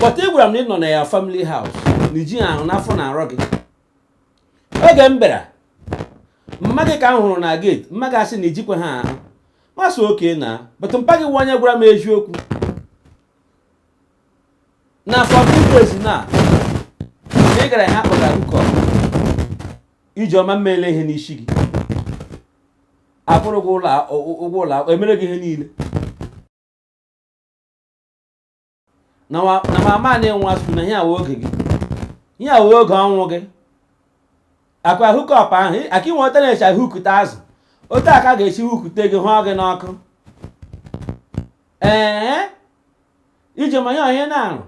but ị gwara m na ị nọ na your family house na ijighị ahụ na afọ na-arọ gị oge m bịara mma gị ka m hụrụ na gate mma gị asị na ijikwaha ahụ m asị okay now but mpa gị wụ onye gwara m eziokwu na for two days now ị gara ihe a kpọga hookup ijeọma m mele ihe n'isi gị akwụrụ gị ụgwọ ụlọ emere gị ihe niile na mama na-enwe asụ na ihe a wụ oge gị ihe a wụ oge ọnwụ gị ọkwa hookup ahụ aka inwe otu a na-eshi hukute azụ otu a ka a ga-esi hukute gị hụọ gị n'ọkụ ee ijeọma ihe onye na-arụ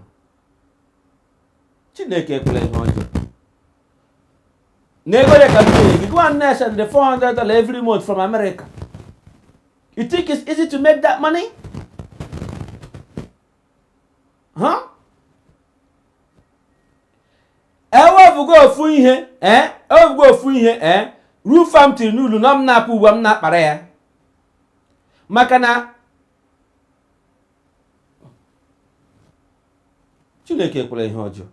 chineke ekwela ihe ọjọọ na ego dị ka mmiri gị gwa nne send 400 dollar every month from America You think it's easy to make that money? Huh? ewefugo ofu ihe ee eh? ewefugo ofu ihe ee eh? roof a m tiri n'ụlọ unu m na-apụ ugbu a m na-akpara ya maka na chineke ekwela ihe ọjọọ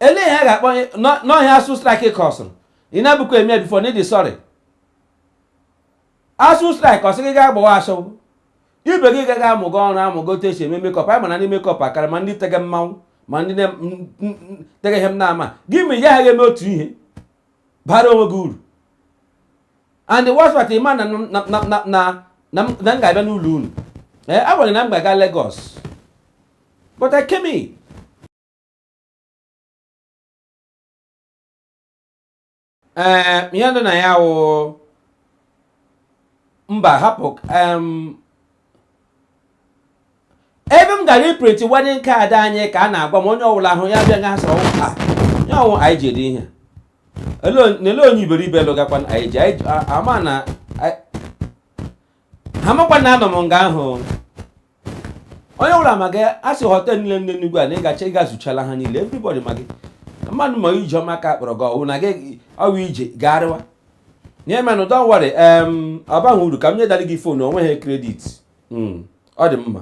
ele ihe a ga-akpọ na ọ wụ ASUU strike kọsụrụ ị na-abụkwa eme before na ịdị sorry ASUU strike ọ sị gị gaa gbawa ashawo ibe gị ga amụgo ọrụ amụgo otu esi eme makeup anya ma ndị makeup akara ma ndị tege mmanwụ ma ndị tege ihe m na-amaghị ma ị gaghị eme otu ihe bara onwe gị uru and worst part ịma na na m ga-abịa n'ụlọ unu ee agwara m gị na m ga-aga Lagos but I came in ee eh, ihe dị na ya wụ mba hapụ ebe m gara iprint wedding card anyị ka a na-agwa m onye ọbụla hụ ya bịa ga-asị ọ wụ ya ọ wụ anyị ji ede ihe nele onye iberibe lụgakwanụ ijeọma na ha amakwa na anọ m nga ahụ onye ọbụla ma gị a sị hotel niile dị n'Enugu a na ị gacha ị gazuchala ha niile everybody ma gị mmadụ ma ijeọma ka a kpọrọ gị ọ wụ na gị ọ wụ ije gagharịwa nye menụ don't worry em ọ baghị uru ka m nyedara gị phone o nweghị credit Mm, ọ dị mma